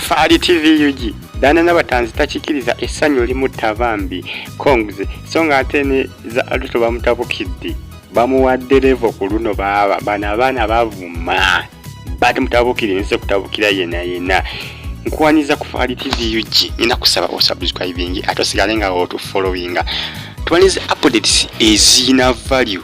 Faali TV UG Dana n'abatanzi takikiriza essanyu limutta bambi Kongs so ng'ate ne za Aluto bamutabukidde bamuwadde levo ku luno baaba bano abaana bavuma bati mutabukire nze kutabukira yena yena nkuwanyiza ku Faali TV UG nina kusaba osubscribing ate osigale nga otufollowinga tuwanyiza updates ezina value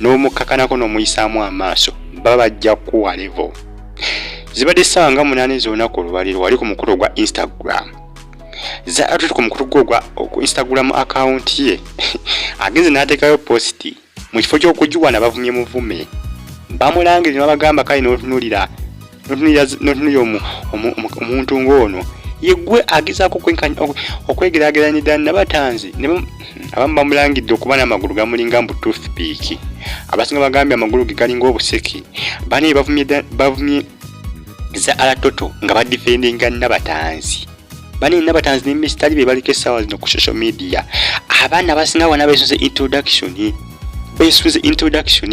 n'omukkakanako n'omuyisaamu amaaso baba bajja kukuwa levo zibadde essaawa nga munaana ez'olunaku olwaleero wali ku mukulu ogwa instagram zaatuti ku mukulu gwe ogwa ku instagram akawunti ye agenze n'ateekayo positi mu kifo ky'okugiwana bavumye muvume bamulangire ne babagamba kale n'otunulira notunuya omuntu ng'ono yegwe agezaako okwegeraageranya ddala nabatanzi abamu bamulangidde okuba n'amagulu gamulinga mbu toothpiiki abasinga bagambye amagulu ge galinga obuseki banaye bavumye za alatoto nga badifendinga nabatanzi banaye nabatanzi nemisitali be baliko essaawa zino ku social media abaana abasinga bona besunze introduction besunze introduction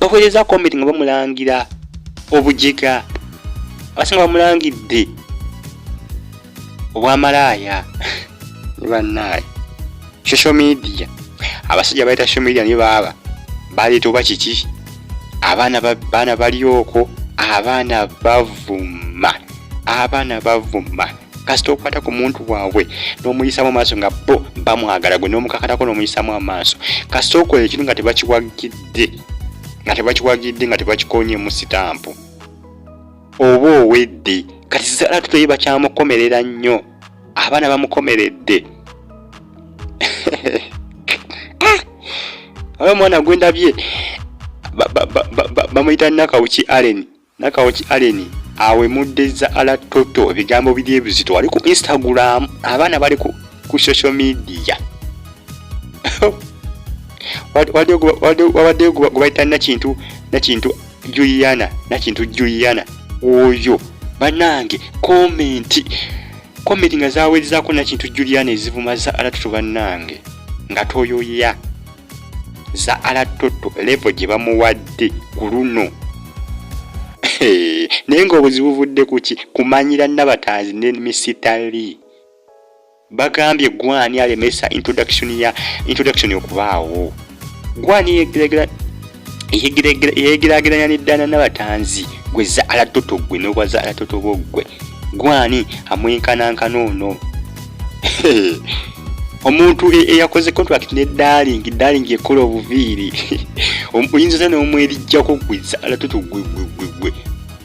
bakozeza komenti nga bamulangira obujiga abasinga bamulangidde obwamalaaya ne bannaaye social media abasajja bayita social media niyo baaba baleeta oba kiki abaana baana bali oko abaana bavuma abaana bavuma kasita okwata ku muntu waabwe n'omuyisamu amaaso nga bo bamwagala gwe n'omukakatako n'omuyisamu amaaso kasita okola ekintu nga tebakiwagidde nga tebakiwagidde nga tebakikonyemu sitampu oba owedde kati sala tutoye bakyamukomerera nnyo abaana bamukomeredde ah! oyo omwana gwendabye bamuyita nakawuki allen Nakawoki Allen awemuddezza ala toto ebigambo biri ebizito wali ku Instagram abaana bali ku, ku social media wabaddeyo gwebayita nakintu nakintu Juliana nakintu Juliana oyo banange komenti komenti nga zaweerezaako nakintu Juliana ezivuma za ala toto banange nga toyoya zaala toto levo gye bamuwadde ku luno naye ng'obuzibu buvudde ku ki kumanyira nabatanzi ne misitali bagambye gwani alemesa introduction ya introduction okubaawo gwani yegeregera yegeraageranya n'eddaana n'abatanzi gwe zaala toto gwe n'obwa zaala toto bo ggwe gwani amwenkanankana ono omuntu e, eyakoze contract ne darling darling ekola obuviiri oyinza otya n'omwerijjako gwe zaala toto gwe gwe gwe gwe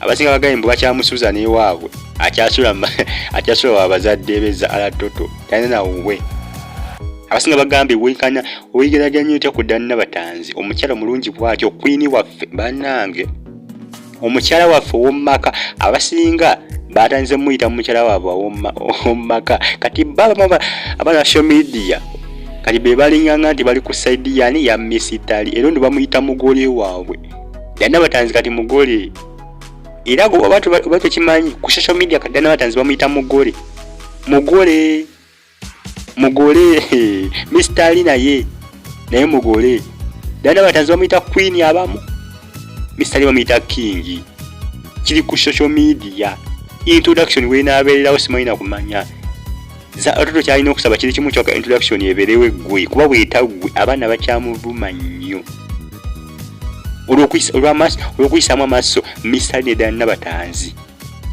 abasinga bagambye mbu bakyamusuuza n'ewaabwe akyasula akyasula wa bazadde be zaala toto talina nawuwe abasinga bagambye wenkanya oyigeraganya otya ku danna batanzi omukyala mulungi bwatyo kwini waffe banange omukyala waffe owomumaka abasinga batanze muyita mumukyala wabwe owomumaka kati baba abana show media kati be balinganga nti bali ku saidi yani ya misitali era ndi bamuyita mugole waabwe danna batanzi kati mugole era gwe oba tekimanyi ku social media kati danna batanzi bamuyita mugole mugole mugole Mr. Ali naye naye mugole dana batanzi bamuyita queen abamu Mr. Ali bamuyita king kiri ku social media introduction wenaabeererawo simanyi na kumanya ototo kyalina okusaba kiri kimu kyoka introduction ebeerewo eggwe kuba bwetaggwe abaana bakyamuvuma nnyo olw'okuyisaamu amaaso Mr. Ali ne dana batanzi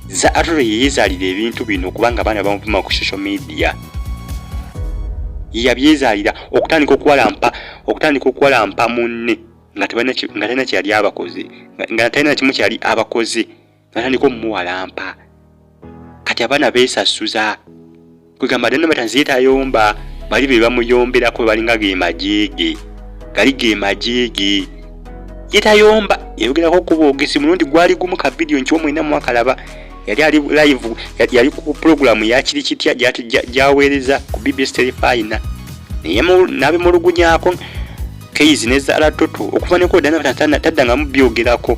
za atore yeyezaalira ebintu bino kubanga abaana bamuvuma ku social media yabyezaalira okutandika okuwalampa okutandika okuwalampa munne nga talina kyeyali abakoze nga talina kimu kyeyali abakoze natandika omumuwalampa kati abaana beesasuza kwegamba dani bata nziye tayomba bali be bamuyombelako balinga ge majeege gali ge majeege ye tayomba yayogerako okuba ogesi mulundi gwali gumu ka vidiyo nkiwa mwena mwakalaba yali ali live yali ku pulogulaamu yakiri kitya gyaweereza ku bbs terefayina naye nabimulugunyako keizi ne zalatoto okuva nekodanataddangamu byogerako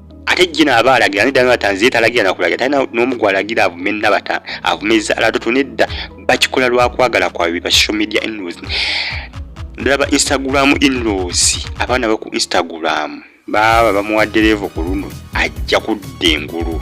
ate jina aba alagira nedda nabatanzi ye talagira nakulagira talina n'omu gwalagira avume nabata avume ezaala toto nedda bakikola lwakwagala kwabwe ba social media inlaws ndaba instagram inlaws abaana baku instagram baaba bamuwadde leevo ku luno ajja kudda engulu